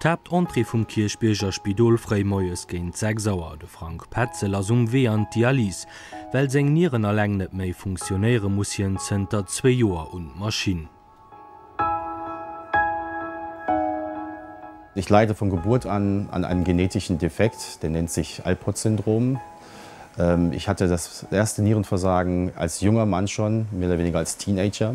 D'Haaptentrée vum Kierchbierger Spidol fréi moies géint 6 Auer, De Frank Petzel ass um Wee an d'Dialyse. Well seng Nieren alleng net méi funktionéiere muss hien zënter zwee Joer un d'Maschinn. Ich leide von Geburt an an einem genetischen Defekt, der nennt sich Alport-Syndrom. Ich hatte das erste Nierenversagen als junger Mann schon, mehr oder weniger als Teenager.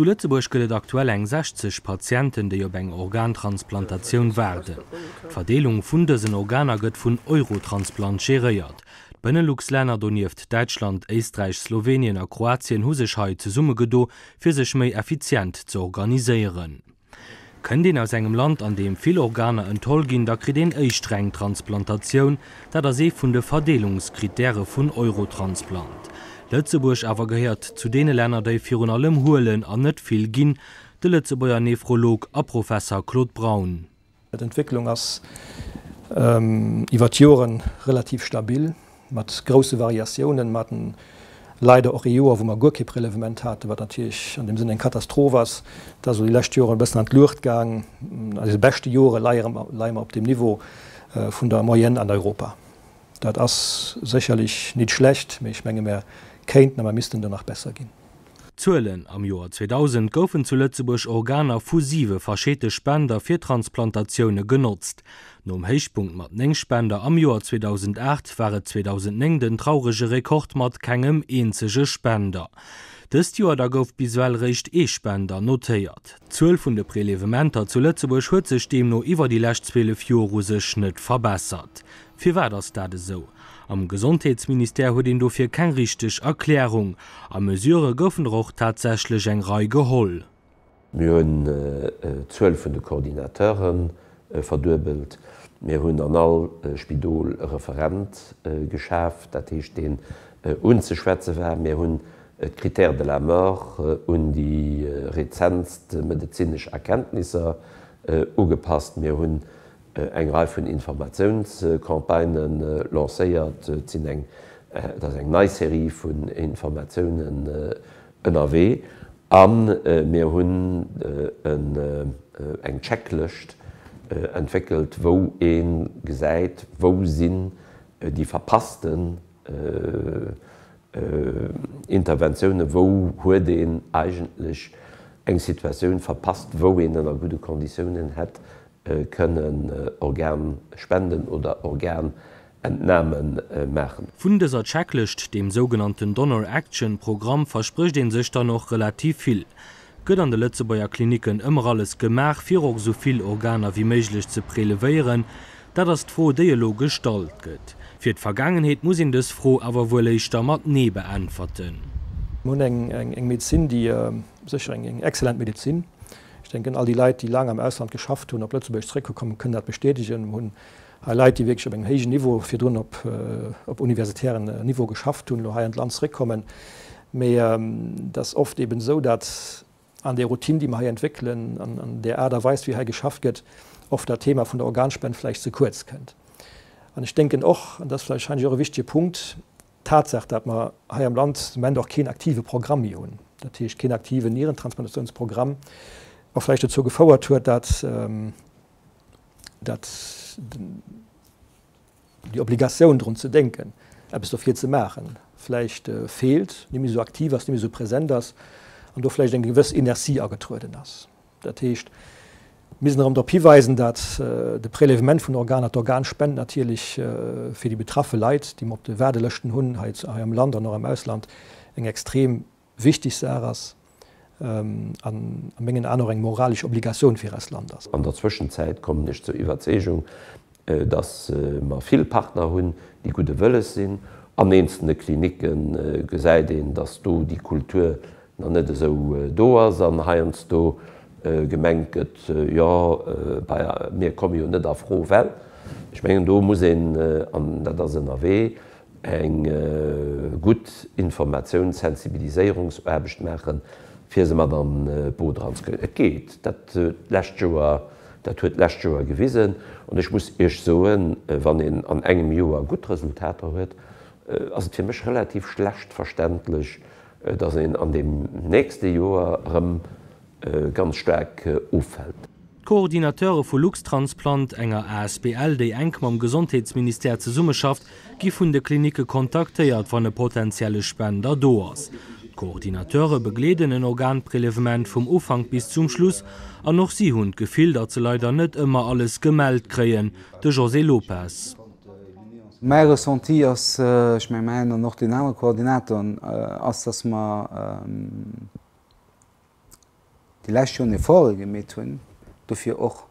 Zu Lëtzebuerg gëtt et aktuell eng 60 Patienten, déi op eng Organtransplantatioun waarden. D'Verdeelung vun dësen Organer gëtt vun Eurotransplant geréiert. D'Benelux-Länner, donieft Däitschland, Éisträich, Slowenien a Kroatien, hu sech hei zesummegedo fir sech méi effizient ze organiséieren. Kënnt een aus engem Land, an deem vill Organer entholl ginn, da kritt een éischt reng Transplantatioun. Dat ass ee vun de Verdeelungskrittäre vun Eurotransplant. Lëtzebuerg awer gehéiert zu deene Länner, déi virun allem huelen an net vill ginn. De Lëtzebuerger Nephrolog a Professer Claude Braun. D'Entwécklung ass iwwer d'Jore relativ stabil, mat grousse Variatiounen. Mer haten leider och ee Joer, wou mer guer kee Prélèvement haten, wat natierlech an deem Sënn eng Katastroph ass. Dat ass elo déi lescht Joren e bëssen an d'Luucht gaang. A deene beschte Jore leie mer op dem Niveau vun der Moyenne an Europa. Dat ass sécherlech nit schlecht, mee ech menge mer kéinten a mer missten do nach besser ginn. Spender. Zuelen, Am Joer 2000 goufen zu Lëtzebuerg Organer vu siwe verschete Spender fir Transplantatioune genotzt. Nom Héichpunkt mat néng Spender am Joer 2008 war et 2009 den traurege Rekord mat kengem eenzege Spender dëst Joer. Da gouf bis ewell eréischt ee Spender notéiert. D'Zuel vun de Prelevementer zu Lëtzebuerg huet sech deemno iwwer déi lescht 12 Joer u sech net verbessert. Firwat ass dat esou? Am Gesondheetsministère huet een dofir keng richteg Erklärung. A Mesure goufen der och tatsächlech eng Rei geholl. Mir hunn d'Zuel vun de Coordinateure verduebelt. Mir hunn an all Spidol e Referent geschaf, dat heescht deen unzeschwätze war. Mir hunn d'Critères de la mort un déi rezentst medezinesch Erkenntnisser ugepasst. Mir hunn eng Rei vun Informatiounscampagnë lancéiert, et sinn eng, et ass eng nei Serie vun Informatiounen ënnerwee a mir hunn en, eng Checklëscht entwéckelt, wou ee gesäit, wou sinn déi verpassten Interventiounen, wou huet een eigentlech eng Situatioun verpasst, wou een ënner gudde Konditiounen hätt kënnen Organspenden oder Organentname maachen. Vun dëser Checklëscht, deem sougenannten Donor Action Programm, versprécht een sech dann och relativ vill. Gëtt an de Lëtzebuerger Klinicken ëmmer alles gemaach, fir och esou vill Organer wéi méiglech ze prelevéieren? Dat ass d'Fro, déi elo gestallt gëtt. Fir d'Vergaangenheet muss een dës Fro awer wuel éischter mat Nee beäntwerten. Mir hunn eng Medezin, déi sécher eng excellent Medezin, Ech denken, all déi Leit, déi laang am Ausland geschafft hunn, op Lëtzebuerg zréckgekommen, kënnen dat bestätegen. Mir hunn hei Leit, déi wierklech op engem héijen Niveau, virdrun op universitären Niveau geschafft hunn, elo hei an d'Land zréckkommen. Mee et ass oft eeben esou, datt an där Routine, déi mer hei entwéckelen, an an där Aart a Weis, wéi hei geschafft gëtt, oft dat Thema vun der Organspend vläicht ze kuerz kënnt. An ech denken och, an dat ass vläicht wahrscheinlech och e wichtige Punkt, D'Tatsaach, dat mer hei am Land de Moment och keen aktive Programm méi hunn, dat heescht keen aktiven Nierentransplantatiounsprogramm, och vläicht dozou gefouert huet, dat dat déi Obligatioun drun ze denken, eppes dofir ze maachen, vläicht feelt, net méi esou aktiv ass, net méi esou present ass an do vläicht eng gewëss Inertie agetrueden ass. Dat heescht, mir müssen erëm drop hiweisen, dat de Prélèvement vun Organer, d'Organspend natierlech fir déi betraffe Leit, déi mer op de Waardelëschten hunn hei am Land an och am Ausland, eng extrem wichteg Saach ass an a mengen Aen och eng moralesch Obligatioun fir eist Land ass. An der Zwëschenzäit kommen ech zur Iwwerzeegung, dass mer vill Partner hunn, déi gudde Wëlles sinn. An eenzelne Klinicke gesäit een, dass do déi Kultur nach net esou do ass an heiansdo gemengt gëtt, jo bei mir komme jo net a Fro, well. Ech mengen, do muss een, an dat ass ënnerwee, eng gutt Informatiouns-, Sensibiliséierungsaarbecht maachen, fir se mat an d'Boot eranzekréien. Et geet. Dat lescht Joer, dat huet d'lescht Joer gewisen. An ech muss Iech soen, wann een an engem Joer gutt Resultater huet, ass et fir mech relativ schlecht verständlech, dass een an deem nächste Joer erëm ganz staark offält. D'Coordinateure vu Luxtransplant, enger asbl déi enk mam Gesondheetsministère zesummeschafft, gi vun de Klinicke kontaktéiert, wann e potentielle Spender do ass. D'Coordinateure begleeden en Organprelevement vum Ufank bis zum Schluss an och si hunn d'Gefill, datt se leider net ëmmer alles gemellt kréien. De José Lopez. Mäi Ressenti ass, ech mengen mäin an och deenen anere Koordinatoren, ass, datt mer déi lescht Joren Efforte gemeet hunn, dofir och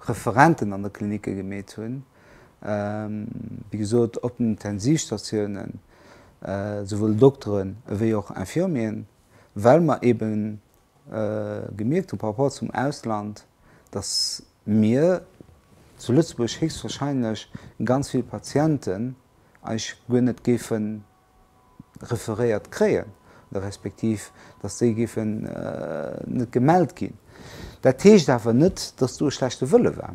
Referenten an de Klinicke gemeet hunn, wéi gesot op den Intensivstatiounen, souwuel Dokteren ewéi och Infirmieren, well mer ebe gemierkt hu par rapport zum Ausland, datt mir zu Lëtzebuerg héchstwahrscheinlech ganz vill Patienten eis guer net géife referéiert kréien, respektiv datt déi géifen net gemellt ginn. Dat heescht awer net, datt do e schlechte Wëlle war.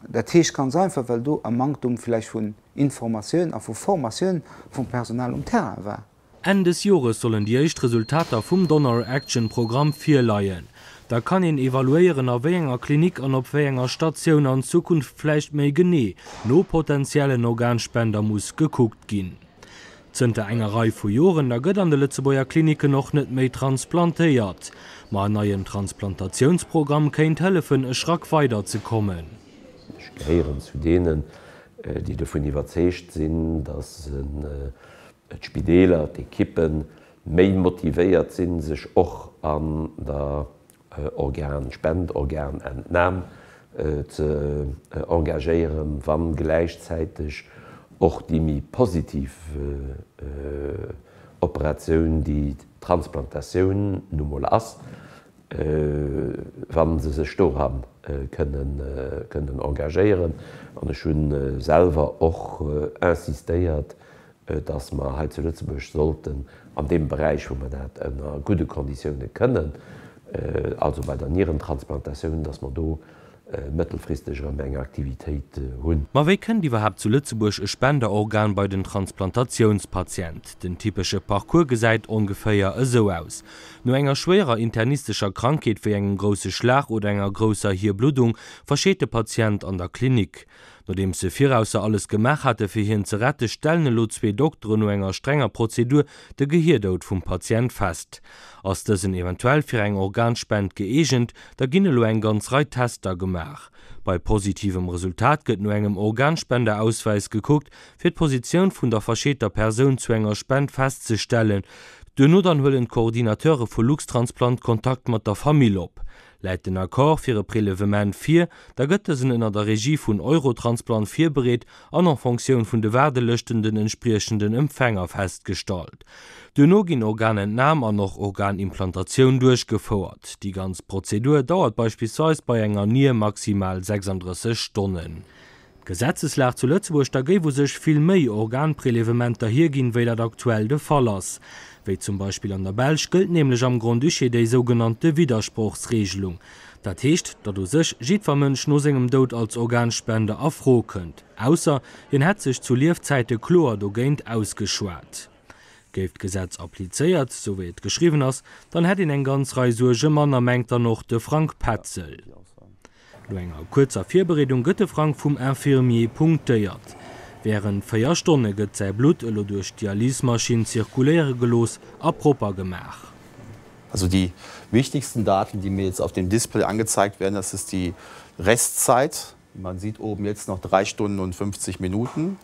Dat heescht ganz einfach, well do e Manktum vläicht vun Informatioun a vu Formatioun vum Personal um Terrain war. Enn des Jores sollen déi éischt Resultater vum Donor Action Programm virleien. Da kann een evaluéieren, a wéi enger Klinik an op wéi enger Statioun an Zukunft vläicht méi genee no potenziellen Organspender muss gekuckt ginn. Zënter enger Rei vu Joren da gëtt an de Lëtzebuerger Klinicken och net méi transplantéiert. Ma en neien Transplantatiounsprogramm kéint hëllefen, e Schrack weider ze kommen. Ech gehéieren zu deenen, déi dovun iwwerzeegt sinn, datt d'Spideeler, d'Ekippe méi motivéiert sinn, sech och an der Organspendeorganentnam ze engagéieren, wa gläichzäiteg och déi méi positiv Operatioun, déi d'Transplantatioun nu mol ass, wa se sech dora kënnen engagéieren. An ech hu selwer och insistéiert, datt mer hei zu Lëtzebuerg sollten an deem Beräich, wou mer dat ënner gudde Konditiounen kënnen, also bei der Nierentransplantatioun, datt mer do mëttelfristeg erëm eng Aktivitéit hunn. Ma wéi kënnt iwwerhaapt zu Lëtzebuerg e Spenderorgan bei den Transplantatiounspatient? Den typesche Parcours gesäit ongeféier esou aus, No enger schwéierer internistescher Krankheet wéi engem grousse Schlag oder enger grousser Hierbluddung verscheet de Patient an der Klinik. Nodeems se virausser alles gemaach hate fir hien ze rette, stellen elo zwee Dokteren no enger strenger Prozedur de Gehirdoud vum Patient fest. Ass dësen eventuell fir eng Organspend gëeegent, da ginn elo eng ganz Rei Tester gemaach. Bei positivem Resultat gëtt no engem Organspenderauswäis gekuckt, fir d'Positioun vun der verscheeter Persoun zu enger Spend festzestellen. Duerno dann huelen d'Coordinateure vu Luxtransplant Kontakt mat der Famill op. Läit den Accord fir e Prélevement vir, da gëtt dësen ënner der Regie vun Eurotransplant virbereet an en Fonctioun vun de Waardelëschten den entspriechenden Empfänger festgestallt. Duerno ginn Organentnam an och Organimplantatioun duerchgefouert. Déi ganz Prozedur dauert beispillsweis bei enger Nier maximal 36 Stonnen. D'Gesetzeslag zu Lëtzebuerg da géif u sech vill méi Organprelevementer hierginn, wéi dat aktuell de Fall ass. Wéi zum Beispill an der Belsch gëllt nämlech am Grand-Duché déi sougenannte Widdersprochsreegelung. Dat heescht, datt u sech jiddwer Mënsch no sengem Doud als Organspender a Fro kënnt, ausser hien hätt sech zu Liefzäite kloer dogéint ausgeschwat. Géif d'Gesetz applizéiert, esou wéi et geschriwwen ass, dann hätt een eng ganz Rei Suerge manner, mengt dann och de Frank Petzel. No enger kuerzer Virbereedung gëtt de Frank vum Infirmier punktéiert. Wärend 4 Stonne gëtt säi Blutt elo duerch d'Dialysemaschinn zirkuléiere gelooss a propper gemaach. Also die wichtigsten Daten, die mir jetzt auf dem Display angezeigt werden, das ist die Restzeit. Man sieht oben jetzt noch 3 Stunden und 50 Minuten.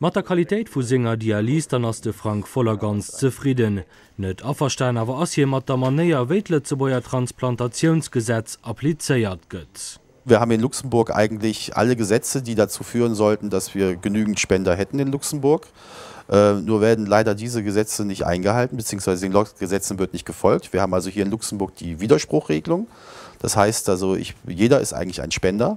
Mat der Qualitéit vu senger Dialyse dann ass de Frank voll a ganz zefridden. Net averstan awer ass hie mat der Manéier, wéi d'Lëtzebuerger Transplantatiounsgesetz applizéiert gëtt. Wir haben in Luxemburg eigentlich alle Gesetze, die dazu führen sollten, dass wir genügend Spender hätten in Luxemburg. Nur werden leider diese Gesetze nicht eingehalten, beziehungsweise den Gesetzen wird nicht gefolgt. Wir haben also hier in Luxemburg die Widerspruchregelung. Das heißt also, jeder ist eigentlich ein Spender.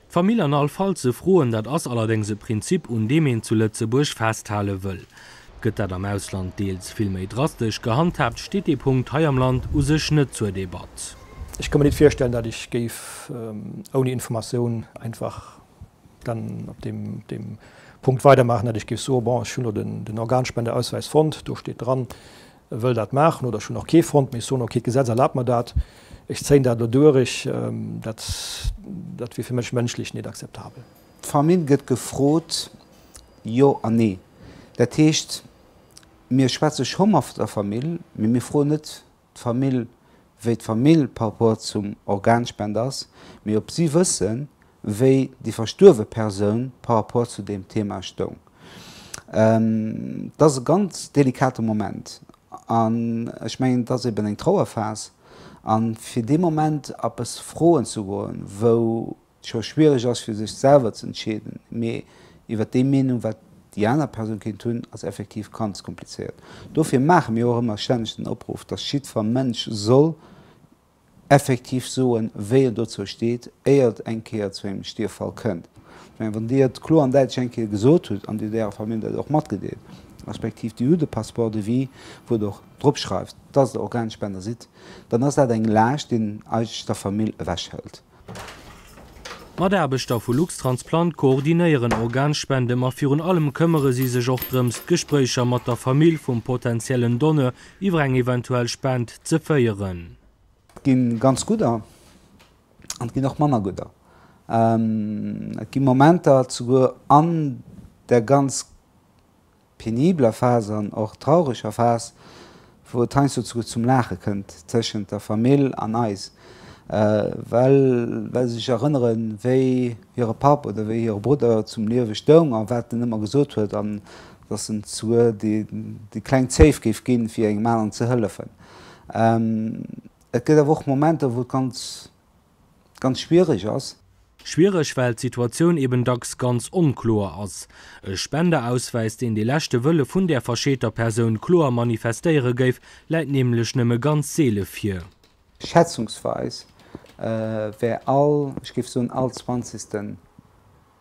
D'Famill an all Fall ze froen, dat ass allerdéngs e Prinzip, un deem een zu Lëtzebuerg festhale wëll. Gëtt dat am Ausland deels vill méi drastesch gehandhaabt, steet dee Punkt hei am Land u sech net zur Debatt. Ech ka mir nit virstellen, dat ech géif ouni Informatioun einfach dann op deem Punkt weidermaachen, dat ech géif soen, bon, ech hunn elo den Organspendeauswäis fonnt, do steet dran, Wëll dat maachen oder ech hunn och kee fonnt, mee ech soen, okay, d'Gesetz erlaabt mer dat, ech zéien dat elo duerch, dat, dat wier fir mech mënschlech net akzeptabel. D'Famill gëtt gefrot, jo an nee. Dat heescht, mir schwätze scho mat der Famill, mee mir froen net d'Famill, wéi d'Famill par rapport zum Organspender ass, mee ob si wëssen, wéi déi verstuerwe Persoun par rapport zu deem Thema stoung. Et ass e ganz delikate Moment. An ech mengen, et ass eben eng Trauerphas. A fir dee Moment a bëss Froen ze goen, wou et scho schwiereg ass, fir sech selwer ze entscheeden, mee iwwer déi Meenung, wat déi aner Persoun kéint hunn, ass effektiv ganz komplizéiert. Dofir maache mir och ëmmer stänneg den Opruff, dass jiddfer Mënsch soll effektiv soen, wéi en dozou steet, éier et eng Kéier zu engem Stierffall kënnt. Ech mengen, wann Dir et kloer an däitlech eng Kéier gesot hutt an Dir hutt Ärer Famill dat och matgedeelt, respektiv Dir hutt e Passeport de vie, wou Der och drop schreift, dass Der Organspender sidd, dann ass dat eng Laascht, déi een eigentlech der Famill ewechhëlt. D'Mataarbechter vu Luxtransplant koordinéieren Organspende ma virun allem këmmere si sech och drëms, d'Gespréicher mat der Famill vum potentiellen Donneur iwwer eng eventuell Spend ze féieren. Et gi ganz gutt an et ginn och manner gutt an et gi Momenter, souguer an der ganz penibeler Phas an och traureger Phas, wou et heiansdo souguer zum Laache kënnt tëschent der Famill an eis, well well se sech erënneren, wéi hire Papp oder wéi hire Brudder zum Liewe stoung a wat en ëmmer gesot huet an dass en souguer déi kleng Zéif géif ginn, fir engem aneren ze hëllefen. Et gëtt awer och Momenter, wou et ganz. ganz schwierig ass. Schwierig, well d'Situatioun eben dacks ganz onkloer ass. E Spenderauswäis, deen de leschte Wëlle vun där verscheeter Persoun kloer manifestéiere géif, läit nämlech nëmme ganz seele vir. Schätzungsweis wär all, ech géif soen, all Zwanzegsten,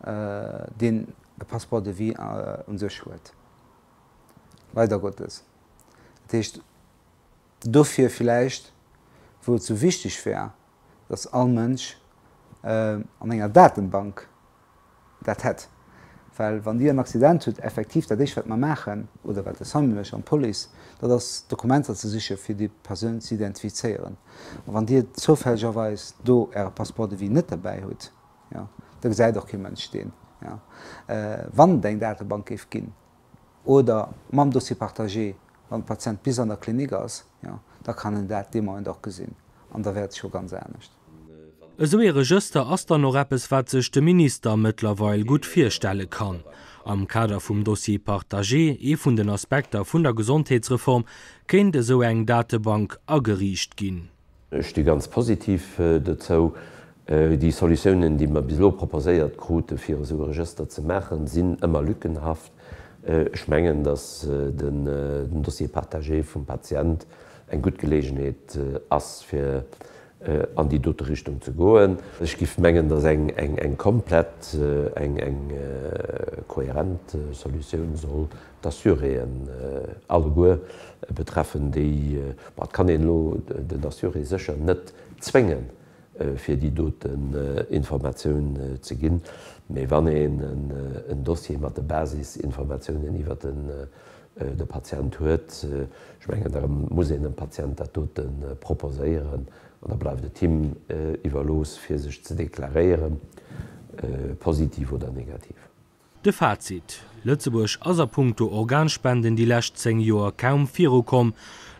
deen e Passeport de vie u sech huet, leider Gottes, dat heescht, Dofir villäicht, wou et sou wichteg wär, datt all Mënsch an enger Datenbank dat hätt. Well wann Dir en Accident hutt, effektiv dat éischt wat mer maachen, oder wat de Samuel, ech an d'Police, dat ass Dokumenter ze siche fir déi Persoun ze identifizéieren. A wann Dir zoufällegerweis do Äre Passeport de vie net derbäi hutt, jo, da gesäit och kee Mënsch deen, jo, wann et eng Datebank géif ginn. oder mam Dossier partagé, wann de Patient bis an der Klinik ass, jo, da kann en dat dee Moment och gesinn an da wäert sech och ganz anescht. Esou ee Regëster ass dann och eppes, wat sech de Minister mëttlerweil gutt virstelle kann. Am Kader vum Dossier partagé, ee vun den Aspekter vun der Gesondheetsreform, kéint esou eng Datebank ageriicht ginn. Ech sti ganz positiv dozou. Déi Solutiounen, déi mer bis elo proposéiert krute fir esou e Regëster ze maachen, sinn ëmmer lückenhaft. Ech mengen, datt den Dossier partagé vum Patient eng gutt Geleegenheet ass fir an déi dote Richtung ze goen. Ech géif mengen, datt eng komplett, eng kohärent Solutioun soll D'Assuréen alleguer betreffen déi, ma et kann een elo den Assuré sécher net zwéngen, fir déi doten Informatioun ze ginn. Mee wann een en Dossier mat de Basisinformatiounen iwwer de Patient huet, ech mengen, da muss een dem Patient dat dote proposéieren an da bleift et him iwwerlooss, fir sech ze deklaréieren, positiv oder negativ. De Fazit, Lëtzebuerg ass a punkto Organspenden déi lescht 10 Joer kaum virukomm.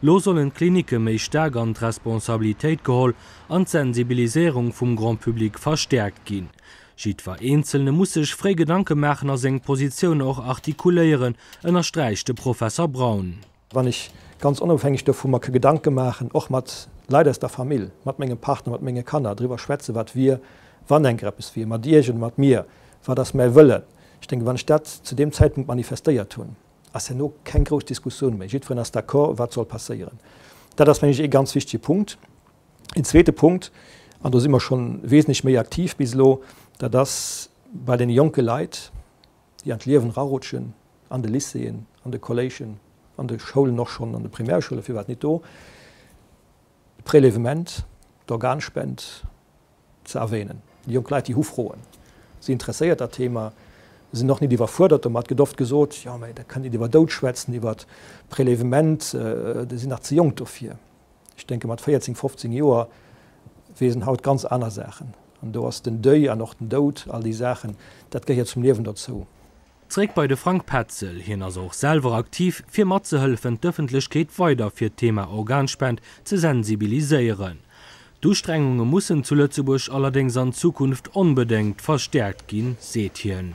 Lo sollen d'Klinicke méi staark an d'Responsabilitéit geholl an d'Sensibiliséierung vum Grand Public verstäerkt ginn. Jiddwer Eenzelne muss sech fréi Gedanke maachen a seng Positioun och artikuléieren, ënnersträicht de Professer Braun. wann ech ganz onofhängeg dovu mer ke Gedanke maachen, och mat Leit aus der Famill, mat mengem Partner, mat menge Kanner, driwwer schwätze wat wier, wann enker eppes wier, mat Iech oder mat mir, wat ass mäi Wëllen. Ech denken, wann ech dat zu deem Zäitpunkt manifestéiert hunn, ass herno keng grouss Diskussioun méi. Jiddferen ass d'accord, wat soll passéieren. Dat ass, meng ech, ee ganz wichtige Punkt. Een zweete Punkt, an do si mer scho wesentlech méi aktiv bis elo, dat ass bei deene jonke Leit, déi an d'Liewen erarutschen, an de Lycéeën, an de Kolléigen, an de Schoulen, och schonn an de Primärschoule firwat nit do, d'Prélèvement, d'Organspend ze erwänen. Déi jonk Leit, déi hu Froen, si interesséiert dat Thema, sinn och nit iwwerfuerdert domat. Et gëtt oft gesot, jo, mä dat kann een iwwer Doud schwätzen, iwwer Prélèvement, déi sinn nach ze jonk dofir. ech denken mat 14, 15 Joer weess en haut ganz aner Saachen. An do ass den Deuil an och den Doud, all déi Saachen, dat gehéiert zum Liewen dozou. Zréck bei de Frank Petzel, hien ass och selwer aktiv fir matzehëllefen d'Ëffentlechkeet weider fir d'Thema Organspend ze sensibiliséieren. D'Ustrengunge mussen zu Lëtzebuerg allerdéngs an Zukunft onbedéngt verstäerkt ginn, seet hien.